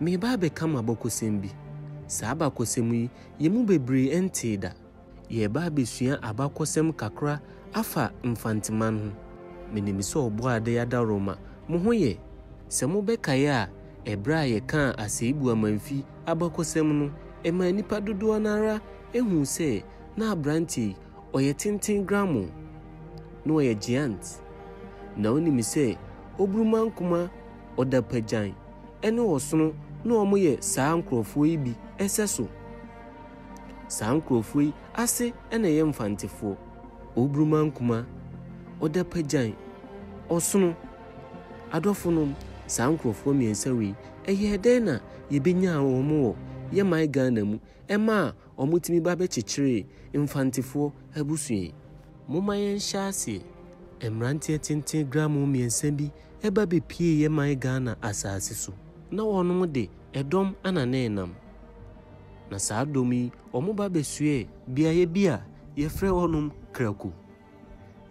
Mereba abɛka mo abakɔsɛm bi. Saa abakɔsɛm yi, yɛn mu bebree ntee da. Yɛreba abɛsua abakɔsɛm kakra afa Mfanteman ho. Menim sɛ Ɔbɔadeɛ adaworoma, mo ho yɛ. Sɛ mobɛkae a, ɛberɛ a yɛkaa Aseibu Amanfi abakɔsɛm no, ɛmaa nnipa dodoɔ no ara huu sɛ na aberanteɛ yi, ɔyɛ tenten gramoo. Na ɔyɛ geant. Na wonim sɛ Oburumankuma ɔdapagyan. ne ɔsono na wɔyɛ saa nkurɔfoɔ yi bi sɛso. Saa nkurɔfoɔ yi ase na ɛyɛ Mfantefoɔ, Oburumankumaa, Odapagyan, Ɔsono. Adɔfonom, saa nkurɔfoɔ mmiɛnsa wei, ɛyɛɛ dɛn na yɛbɛnyaa wɔn wɔ yɛn man Ghana mu maa wɔtumi ba bɛkyekyeree mfantefoɔ abusua yi. Momma yɛnhyɛ aseɛ. Mmeranteɛ tenten gramo mmiɛnsa bi ba bɛpieeɛ mae Ghana asaase so. Na wɔnom de ɛdɔm na na ɛnam. Na saa dɔm yi wɔba bɛsoɛɛ. Beaeɛ bi a yɛfrɛ hɔnom Kraku.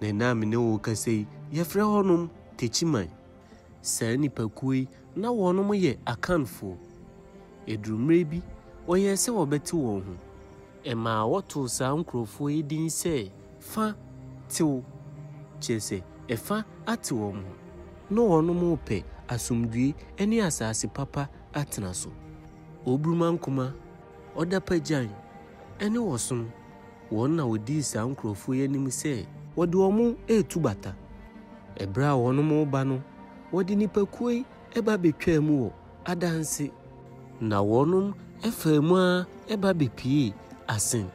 Na ɛnnɛ a me ne wo rekasa yi yɛfrɛ hɔnom Techiman. Saa nnipakuo yi, na wɔnom yɛ Akanfoɔ. Ɛduruu mmerɛ bi, wɔyɛɛ sɛ wɔbɛte wɔn ho. Ɛmaa wɔtoo saa nkurɔfoɔ yi din sɛ Fa tew, kyerɛ sɛ, ɛfa ate wɔn ho. Na wɔnom repɛ asomdwoeɛ ne asaase papa atena so. Oburumankoma, Ɔdapagyan, ne Ɔsono Wɔn na wɔdii saa nkurɔfoɔ yi anim sɛ. Wɔde wɔn retu bata. Ɛberɛ a wɔn reba no, wɔde nnipakuo yi ba bɛtwaa mu wɔ, adanse. Na wɔn faa mu ara ba bɛpiee, asen.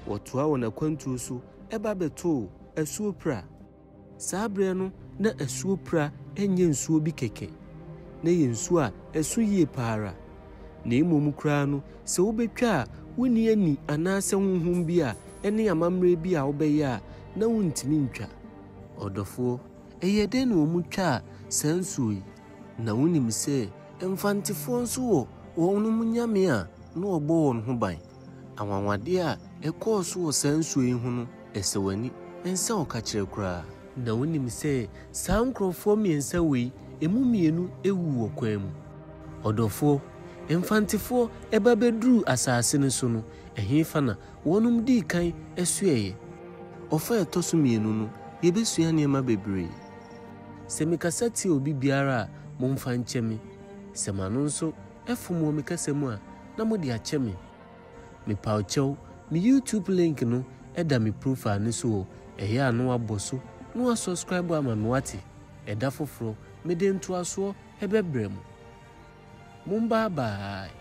Wɔtoaa wɔn akwantuo so ba bɛtoo, asuo pira. Saa berɛ no na asuo Pira nyɛ nsuo bi kɛkɛ, na ɛyɛ nsuo a ɛso yie pa ara. Na mmom koraa no, sɛ wobɛtwa a wonni ani anaasɛ honhom bi a ɛne amammerɛ bi a wobɛyɛ a na wontumi ntwa. Ɔdɔfoɔ, ɛyɛɛ dɛn na wɔtwaa saa nsuo yi? Na wonim sɛ Mfantefoɔ nso wɔ wɔnom nyame a na wɔbɔ wɔn ho ban, Anwanwadeɛ a ɛkɔɔ so wɔ saa nsuo yi ho no, ɛsɛ w'ani nsɛ ɔkakyerɛ koraa. Na wonim sɛ saa nkorɔfoɔ mmiɛnsa wei, ɛmu mmienu wu wɔ kwan mu. Ɔdɔfoɔ, mfantefoɔ ba bɛduruu asase no so no, ɛhefa na wɔnom dii kan soɛeɛ? Ɔfa a ɛtɔ so mmienu no, yɛbɛsua nneɛma bebree. Sɛ mekasa tia obi biara a, momfa nkyɛ me. Sɛ m'ano nso Ɛfom wɔ me kasa mu a, na mode akyɛ me. Mepaw kyɛw, me YouTube link no da me profile no so o, ɛyɛ a na wabɔ so na wasɔskraibo ama me wate? Ɛda foforɔ, mede ntoasoɔ bɛbrɛ mo. Mombaa baae.